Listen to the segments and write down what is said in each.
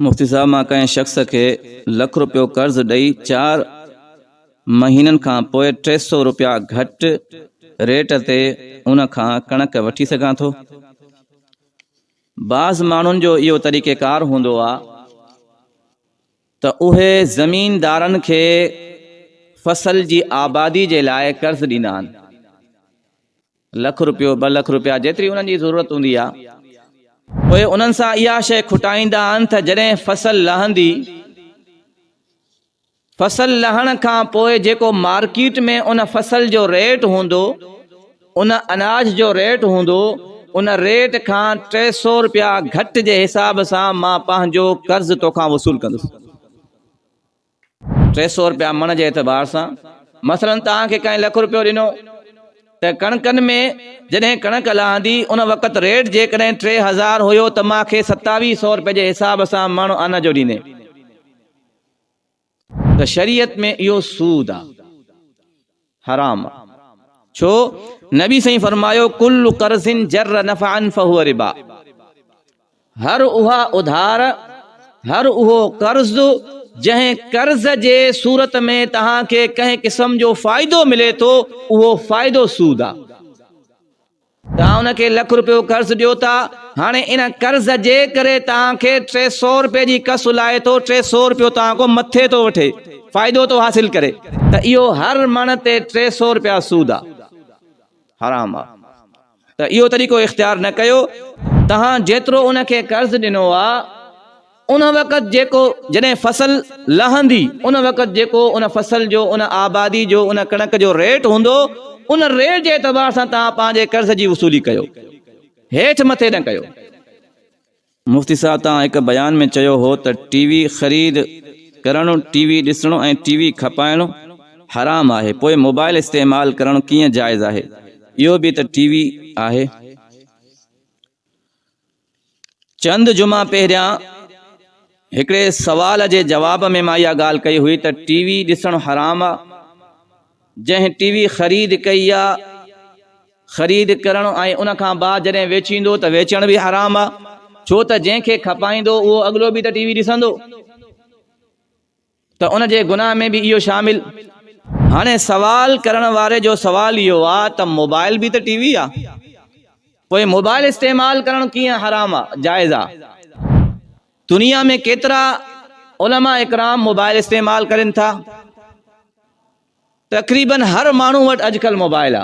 مفتي صاحب مان ڪنهن شخص کي لک روپيو قرض ڏئي چار مهينن کان پوء ٽي سو روپيا گهٽ ريٽ تي ان کان ڪڻڪ وٺي سگهان ٿو؟ بعض ماڻهن جو اهو طريقيڪار هوندو آ ته اهي زميندارن کي فصل جي آبادي جي لاء قرض ڏيندا آهن. لک روپيو، ٻه لک روپيا جيتري انهن جي ضرورت هوندي آهي، پوء انهن سان اها شيء کٽائيندا آهن ته جڏهن فصل لهندي، فصل لهڻ کان پوء جيڪو مارڪيٽ ۾ ان فصل جو ريٽ هوندو، ان اناج جو ريٽ هوندو، ان ريٽ کان ٽي سؤ روپيا گهٽ جي حساب سان مان پنهنجو قرض توکان وصول ڪندس. ٽي سؤ رپيا مڻ جي اعتبار سان مثلا توهان کي ڪنهن لک رپيو ڏنو ته ڪڻڪن ۾ جڏهن ڪڻڪ لهندي ان وقت ريٽ جيڪڏهن ٽي هزار هيو ته مان کي ستاويهه سؤ رپيا جي حساب سان مڻ ان جو ڏيندين ته شريعت ۾ اهو سود آ. حرام آ ڇو نبي سائين فرمايو ڪل قرض جر نفعا فهو ربا هر اها اڌار هر اهو قرض جنهن قرض جي صورت ۾ توهان کي ڪنهن قسم جو فائدو ملي ٿو اهو فائدو سود آ توهان ان کي لک روپيو قرض ڏيو ٿا، هاڻي ان قرض جي ڪري توهان کي ٽي سؤ روپيه جي ڪس لاهي ٿو، ٽي سؤ روپيو توهان کان مٿي ٿو وٺي، فائدو ٿو حاصل ڪري، ته اهو هر مڻ تي ٽي سؤ روپيا سود آ، حرام آ، ته اهو طريقو اختيار نه ڪيو، توهان جيترو ان کي قرض ڏنو آ، ان وقت جيڪو جڏهن فصل لهندي ان وقت جيڪو ان فصل جو ان آبادي جو ان ڪڻڪ جو ريٽ هوندو ان ريٽ جي اعتبار سان توهان پنهنجي قرض جي وصولي ڪيو هيٺ مٿي نه ڪيو مفتي صاحب توهان هڪ بيان ۾ چيو هو ته ٽي وي خريد ڪرڻ ٽي وي ڏسڻو ۽ ٽي وي کپائڻ حرام آهي پوء موبائل استعمال ڪرڻ ڪيئن جائز آهي اهو به ته ٽي وي آهي چند جمعا پهريان هڪڙي سوال جي جواب ۾ مان اها ڳالهه ڪئي هئي ته ٽي وي ڏسڻ حرام آ، جنهن ٽي وي خريد ڪئي آ، خريد ڪرڻ ۽ ان کان بعد جڏهن ويچيندو ته ويچڻ به حرام آ، ڇو ته جنهن کي کپائيندو اهو اڳلو به ته ٽي وي ڏسندو. ته ان جي گناهه ۾ به اهو شامل. هاڻي سوال ڪرڻ واري جو سوال اهو آ ته موبائل به ته ٽي وي آ پوء موبائل استعمال ڪرڻ ڪيئن حرام آ جائز آ؟ دنيا ۾ ڪيترا علماء اڪرام موبائل استعمال ڪرين ٿا. تقريبن هر ماڻهو وٽ اڄڪلهه موبائل آ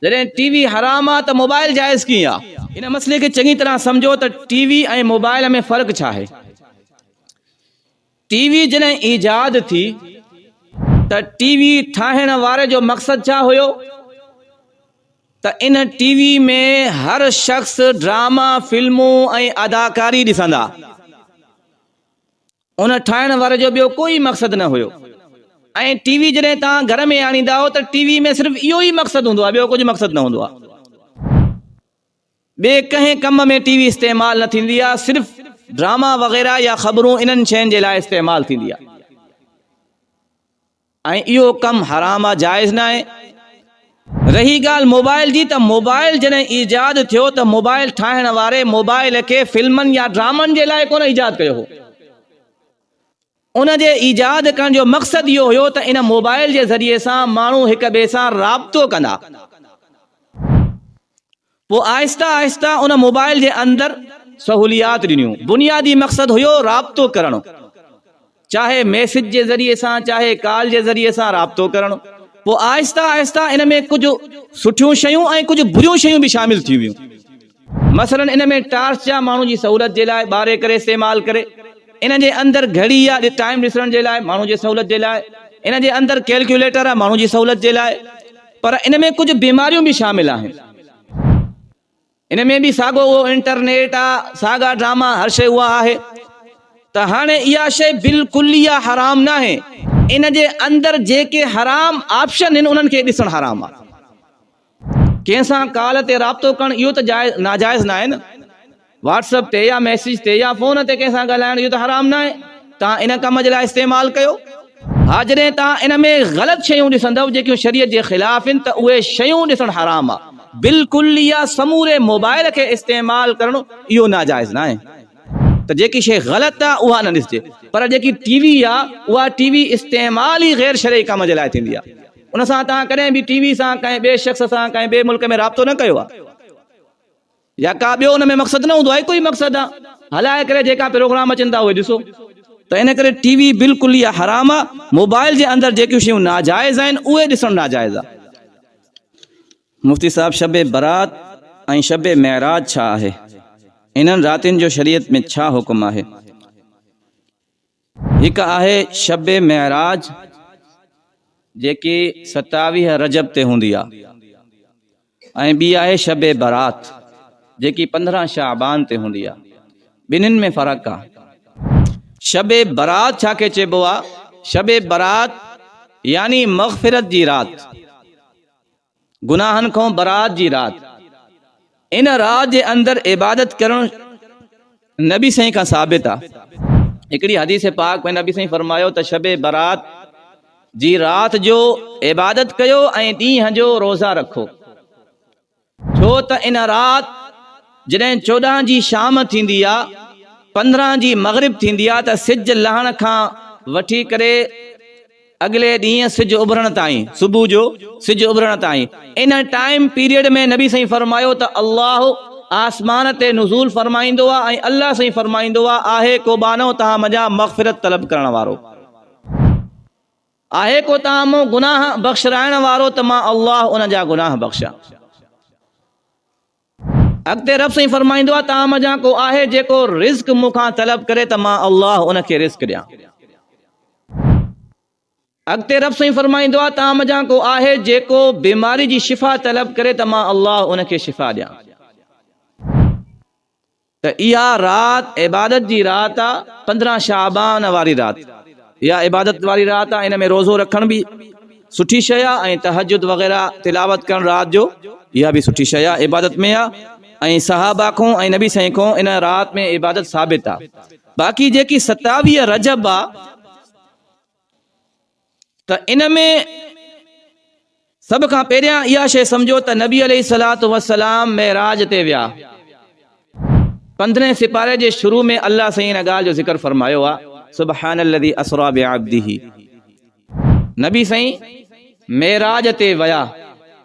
جڏهن ٽي وي حرام آ ته موبائل جائز ڪيئن آ؟ هن مسئلي کي چڱي طرح سمجهو ته ٽي وي ۽ موبائل ۾ فرق ڇا آهي؟ ٽي وي جڏهن ايجاد ٿي ته ٽي وي ٺاهڻ واري جو مقصد ڇا هيو ته ان ٽي وي ۾ هر شخص ڊراما، فلمون ۽ اداڪاري ڏسندا. ان ٺاهڻ واري جو ٻيو ڪو ئي مقصد نه هيو ۽ ٽي وي جڏهن توهان گهر ۾ آڻيندا آهيو ته ٽي وي ۾ صرف اهو ئي مقصد هوندو آهي ٻيو ڪجهه مقصد نه هوندو آهي ٻي ڪنهن ڪم ۾ ٽي وي استعمال نه ٿيندي آهي صرف ڊراما وغيره يا خبرون انهن شين جي لاء استعمال ٿيندي آهي ۽ اهو ڪم حرام آ جائز ناهي. رهي ڳالهه موبائل جي ته موبائل جڏهن ايجاد ٿيو ته موبائل ٺاهڻ واري موبائل کي فلمن يا ڊرامن جي لاء ڪونه ايجاد ڪيو هو. ان جي ايجاد ڪرڻ جو مقصد اهو هيو ته ان موبائل جي ذريعي سان ماڻهو هڪ ٻئي سان رابطو ڪندا. پوء آهستي آهستي ان موبائل جي اندر سهوليات ڏنيون، بنيادي مقصد هيو رابطو ڪرڻ، چاهي ميسج جي ذريعي سان چاهي ڪال جي ذريعي سان رابطو ڪرڻ، پوء آهستي آهستي ان ۾ ڪجهه سٺيون شيون ۽ ڪجهه بريون شيون به شامل ٿيون ويون، مثلا ان ۾ ٽارچ جا ماڻهو جي سهولت جي لاء ٻاري ڪري استعمال ڪري، ان جي اندر گهڙي يا ٽائيم ڏسڻ جي لاء ماڻهو جي سهولت جي لاء، ان جي اندر ڪيلڪيوليٽر آ ماڻهو جي سهولت جي لاء. پر ان ۾ ڪجهه بيماريون به شامل آهن. ان ۾ به ساڳو اهو انٽرنيٽ آ، ساڳا ڊراما، هر شيء اها آهي. ته هاڻي اها شيء بالڪليه حرام ناهي. ان جي اندر جيڪي حرام آپشن هن انهن کي ڏسڻ حرام آ. ڪنهن سان ڪال تي رابطو ڪرڻ اهو ته جائز ناجائز ناهي نه. واٽس اپ تي يا ميسيج تي يا فون تي ڪنهن سان ڳالهائڻ اهو ته حرام ناهي توهان ان ڪم جي لاء استعمال ڪيو ها جڏهن توهان ان ۾ غلط شيون ڏسندؤ جيڪيون شريعت جي خلاف هن ته اهي شيون ڏسڻ حرام آهي بالڪل يا سموري موبائل کي استعمال ڪرڻ اهو ناجائز ناهي ته جيڪي شي غلط آهي اها نه ڏسجي پر جيڪي ٽي وي آهي اها ٽي وي استعمال ئي غير شرعي ڪم جي لاء ٿيندي آهي ان سان توهان ڪڏهن به ٽي وي سان ڪنهن ٻئي شخص سان ڪنهن ٻئي ملڪ ۾ رابطو نه ڪيو آهي. يا ڪا ٻيو ان ۾ مقصد نه هوندو آهي هڪ ئي مقصد آ هلائي ڪري جيڪا پروگرام اچن ٿا اهي ڏسو ته ان ڪري ٽي وي بلڪل ئي حرام آ موبائل جي اندر جيڪيون شيون ناجائز آهن اهي ڏسڻ ناجائز آ مفتي صاحب شب برات ۽ شب معراج ڇا آهي انهن راتين جو شريعت ۾ ڇا حڪم آهي. هڪ آهي شب معراج جيڪي ستاويهه رجب تي هوندي آهي ۽ ٻي آهي شب برات جيڪي پندرهن شعبان تي هوندي آهي ٻنهن ۾ فرق آهي. شب برات ڇا کي چئبو آهي؟ شب برات يعني مغفرت جي رات. گناهن کان برات جي رات ان رات جي اندر عبادت ڪرڻ نبي سائين کان ثابت آ هڪڙي حديث پاڪ ۾ نبي سائين فرمايو ته شب برات جي رات جو عبادت ڪيو ۽ ڏينهن جو روزا رکو ڇو ته ان رات جڏهن چوڏهن جي شام ٿيندي آ پندرهن جي مغرب ٿيندي آ ته سج لهڻ کان وٺي ڪري اڳلي ڏينهن سج اڀرڻ تائين، صبح جو سج اڀرڻ تائين، ان ٽائيم پيريڊ ۾ نبي سائين فرمايو ته الله آسمان تي نزول فرمائيندو آ ۽ الله سائين فرمائيندو آ آهي ڪو ٻانهو توهان منجهان مغفرت طلب ڪرڻ وارو؟ آهي ڪو توهان مون گناهه بخشرائڻ وارو ته مان الله ان جا گناهه بخشان؟ اڳتي رب سائين فرمائيندو آهي ته آمه جان ڪو آهي جيڪو رزق مون کان طلب ڪري ته مان الله ان کي رزق ڏيان. اڳتي رب سائين فرمائيندو آهي ته آمه جان ڪو آهي جيڪو بيماري جي شفا طلب ڪري ته مان الله ان کي شفا ڏيان. ته اها رات عبادت جي رات آ، پندرهن شعبان واري رات اها عبادت واري رات آ، ان ۾ روزو رکڻ به سٺي شيء آ ۽ تهجد وغيره تلاوت ڪرڻ رات جو اها به سٺي شيء آ، عبادت ۾ آ ۽ صحابه کون ۽ نبي سائين کون ان رات ۾ عبادت ثابت آ، باقي جيڪي ستاويهه رجب آ. ته ان ۾ سڀ کان پهريان اها شيء سمجهو ته نبي عليه الصلات والسلام معراج تي ويا پندرهين سپاري جي شروع ۾ الله سائين ان ڳالهه جو ذڪر فرمايو آهي سبحان الذي اسرا بعبده نبي سائين معراج تي ويا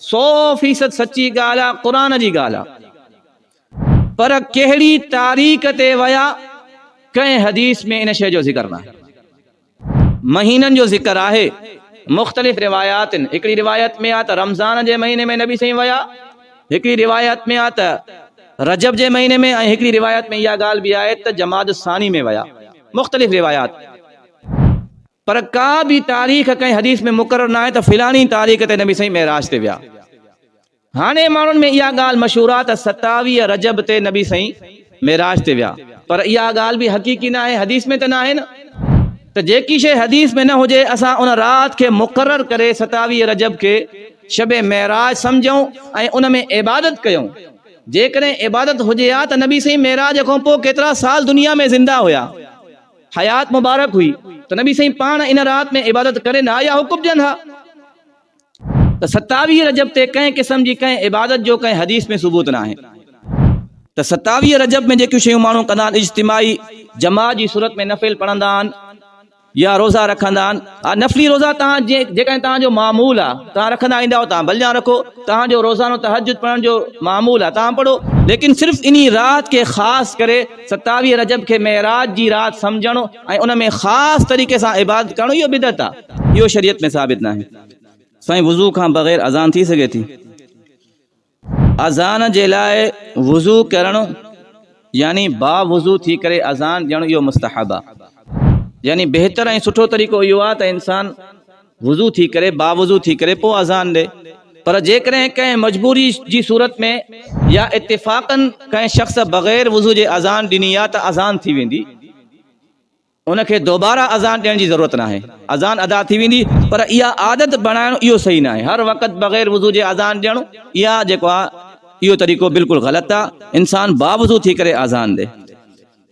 سو فيصد سچي ڳالهه آهي قرآن جي ڳالهه آهي پر ڪهڙي تاريخ تي ويا ڪنهن حديث ۾ ان شيء جو ذڪر نه آهي مهينن جو ذڪر آهي مختلف رواياتن هڪڙي روايت ۾ آ ته رمضان جي مهيني ۾ نبي سائين ويا هڪڙي روايت ۾ آ ته رجب جي مهيني ۾ ۽ هڪڙي روايت ۾ اها ڳالهه به آهي ته جماد الثاني ۾ ويا مختلف روايات پر ڪا به تاريخ ڪنهن حديث ۾ مقرر ناهي ته فلاڻي تاريخ تي نبي سائين معراج تي ويا. هاڻي ماڻهن ۾ اها ڳالهه مشهور آ ته ستاويهه رجب تي نبي سائين معراج تي ويا پر اها ڳالهه به حقيقي ناهي حديث ۾ ته ناهي نه ته جيڪي شيء حديث ۾ نه هجي اسان ان رات کي مقرر ڪري ستاويهه رجب کي شب معراج سمجهون ۽ ان ۾ عبادت ڪيون جيڪڏهن عبادت هجي ها ته نبي سائين معراج کان پوء ڪيترا سال دنيا ۾ زنده هيا حيات مبارڪ هئي ته نبي سائين پاڻ ان رات ۾ عبادت ڪرين ها يا حڪم ڏين ها. ته ستاويهه رجب تي ڪنهن قسم جي ڪنهن عبادت جو ڪنهن حديث ۾ ثبوت ناهي ته ستاويهه رجب ۾ جيڪيون شيون ماڻهو ڪندا آهن اجتماعي جماعت جي صورت ۾ نفل پڙهندا آهن يا روزا رکندا آهن آ نفلي روزا تان جي جيڪڏهن تان جو معمول آ تان رکندا ايندا آهو تان بلجان رکو تان جو روزانو تهجد پڙهڻ جو معمول آ تان پڙهو ليڪن صرف انهي رات کي خاص ڪري ستاويهه رجب کي معراج جي رات سمجهڻ ۽ ان ۾ خاص طريقي سان عبادت ڪرڻ اهو بدعت آهي اهو شريعت ۾ ثابت ناهي سائين وضو کان بغير اذان ٿي سگهي ٿي اذان جي لاء وضو ڪرڻ يعني با وضو ٿي ڪري اذان ڏيڻ اهو مستحب آهي يعني بهتر ۽ سٺو طريقو اهو آهي ته انسان وضو ٿي ڪري، باوضو ٿي ڪري پوء اذان ڏي. پر جيڪڏهن ڪنهن مجبوري جي صورت ۾ يا اتفاقاً ڪنهن شخص بغير وضو جي اذان ڏني يا ته اذان ٿي ويندي، ان کي دوباره اذان ڏيڻ جي ضرورت ناهي، اذان ادا ٿي ويندي، پر اها عادت بڻائڻ اهو صحيح ناهي، هر وقت بغير وضو جي اذان ڏيڻ اها جيڪو آهي اهو طريقو بلڪل غلط آهي، انسان باوضو ٿي ڪري اذان ڏي.